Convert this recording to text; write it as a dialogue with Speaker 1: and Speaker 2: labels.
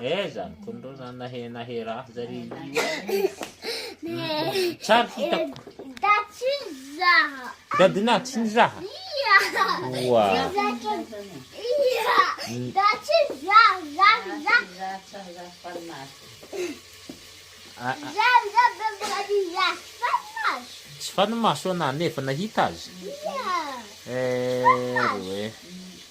Speaker 1: Eh
Speaker 2: zany kony reo
Speaker 1: zany nahe nahe raha zary io eh. Tsary hitako.
Speaker 2: Dadinah tsy
Speaker 1: nizaha. Oa. Tsy fanimaso anah nefa nahita azy. Eh, reo eh.